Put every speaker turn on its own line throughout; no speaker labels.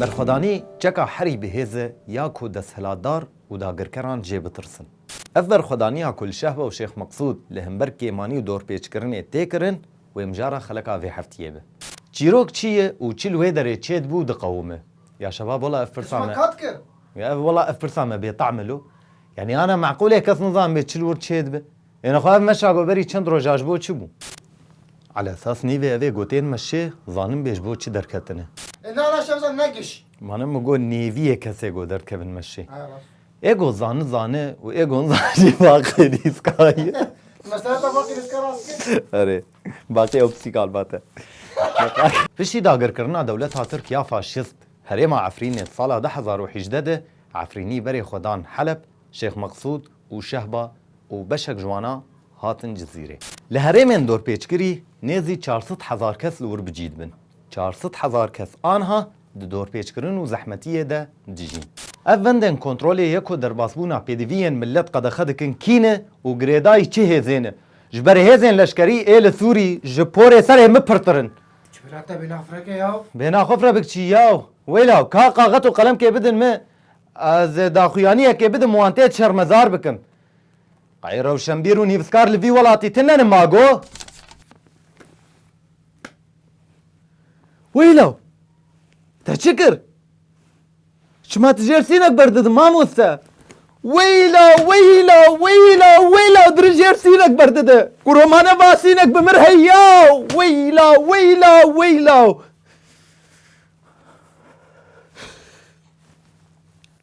Berxwedanî çeka herî bihêz e ya ku desthilatdar û dagirkeran jê bitirsin. Ev berxwedaniya ku li Şehba û Şêx Meqsûd li hember kêmanî û dorpêçkirinê tê kirin, Wê mijara xeleka vê heftiyê be. Çîrok çi ye û çi li wê derê çêdibû diqewime. Ya şebab wela ev pirsa me. Kesma kat kir. Ya ev wela ev pirsa me bêteam e lo. Yanî ana meqûl e kes nizanibe çi li wir çêdibe. Yêne xwe ev meşa got berî çend roja ji bo çi bû. Ala esas nîvê evê gotên me şê zanin bê ji bo çi derketine. Ê na na şevza negiş. Mane min got nêviyê kesê got derdkevin me şê. Ego zani zani û ego zani jî baqê rîska ye. Meseleta baqê rîska rast e? Erê. Baqê opsîkal vat e. Piştî dagirkirina dewleta Tirk ya faşîst herêma Efrînê sala du hezar û hejdeh de Efrînî berê xwe dan Heleb, Şêx Meqsûd û Şehba û beşek ji wana hatin Cizîrê. Li herêmên dorpêçkirî nêzî çar sed hezar kes li wir bi cî dibin. Çar sed hezar kes anha di dorpêçkirin û zehmetiyê de dijîn. Ev vendên kontrolê ye ku derbasbûna pêdiviyên milet qedexe dikin kî ne û girêdayî çi hêzê ne. Ji ber hêzên leşkerî ê li Sûrî ji porê serê min pirtir in. Çi bira te bêhna xwe fireke yaw? Bêhna xwe fire bikçî yaw. Wêlaw ka qaxet û qelemkê bidin min ez ê daxuyaniyekê bidim wan tê şermezar bikim. Qey rewşenbîr û nîvskar li vî welatî tune ne ma go? Weyla! Te çi kir? Çima tu jêr sînek berdidin mamoste? Weyla, weyla, weyla, weyla dir jêr sînek berdide. Ku romane va sînek bi mir heya. Weyla, weyla, weyla.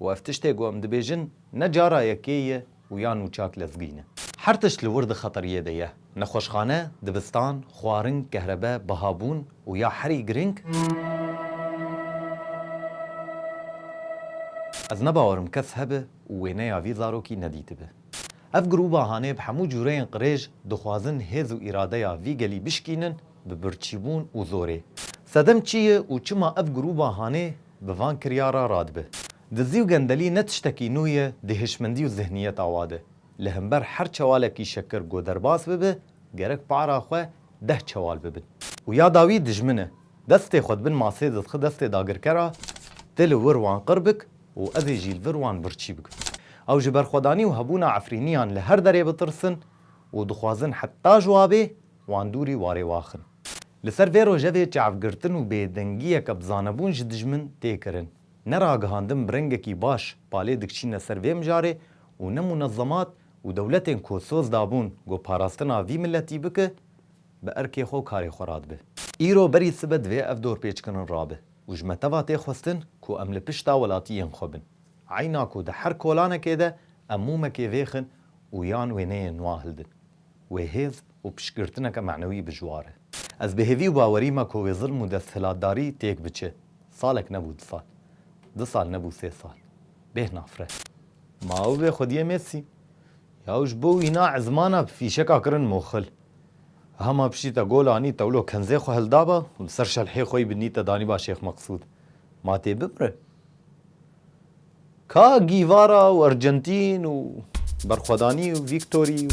Û ev tiştê ku em dibêjin ne cara yekê ye û ya nû çak lezgîn e. Her tişt li wir di xeteriyê de ye. Nexweşxane, dibistan, xwarin, kehrebe, bihabûn û ya herî girîng, ez ne bawer im kes hebe û wêneya vî zarokî nedîtibe. Ev grûba hanê bi hemû cûreyên qirêj dixwazin hêz û îradeya vî gelî bişkînin bi birçîbûn û zorê. Sedem çi ye û çima ev grûba hanê Bi van kiryara radibe. Dizî û gendelî ne tiştekî nû ye di hişmendî û zihniyeta wa de. Li himber her çewalekî şekir ku derbas bibe, gerek para xwe deh çewal bibin. Û ya dawî dijmin e. Destê xwe di bin masê de dixi destê dagirkera, Ti li wir wan qir bik û ez ê jî li vir wan birçî bikim. Ew ji berxwedanî û hebûna efrîniyan li her derê bitirsin û dixwazin heta ji wa bê wan dûrî warê waxin. Li ser vê rojevê çavgirtin û bêdengiyeke bi zanebûn ji dijmin tê kirin. Ne ragihandin bi rengekî baş palê dikiçîne ser vê mijarê û ne munezemat û dewletên ku soz dabûn ku parastina vî miletî bike bi erkê xwe û karê xwe radibe. Îro berî sibe divê ev dorpêçkirin rabe û ji me teva tê xwestin ku em li pişta welatiyên xwe bin. Eyna ku di her kolanekê de em mûmekê vêxin û yan wêneyên nûa hildin. Wê hêz û piştgirtineke manewî bijwar e. Ez bi hêvî û bawerî me ku wê zilm û desthilatdarî têk biçe. Salek nebû du sal. Du sal nebû sê sal. Bêh nafre. Ma ew bê xwediyê mêsî. Ya û ji bo wîna ezmana bi fîşeka kirin moxil. Eha ma piştî te gol anî tewlo kenzê xwe hildaba û li ser şelhê xwe yî bi nîte danîba Şêx Meqsûd. Ma tê bimire. Ka Gîvara û Argentîn û Berxwedanî û Vîktorî û.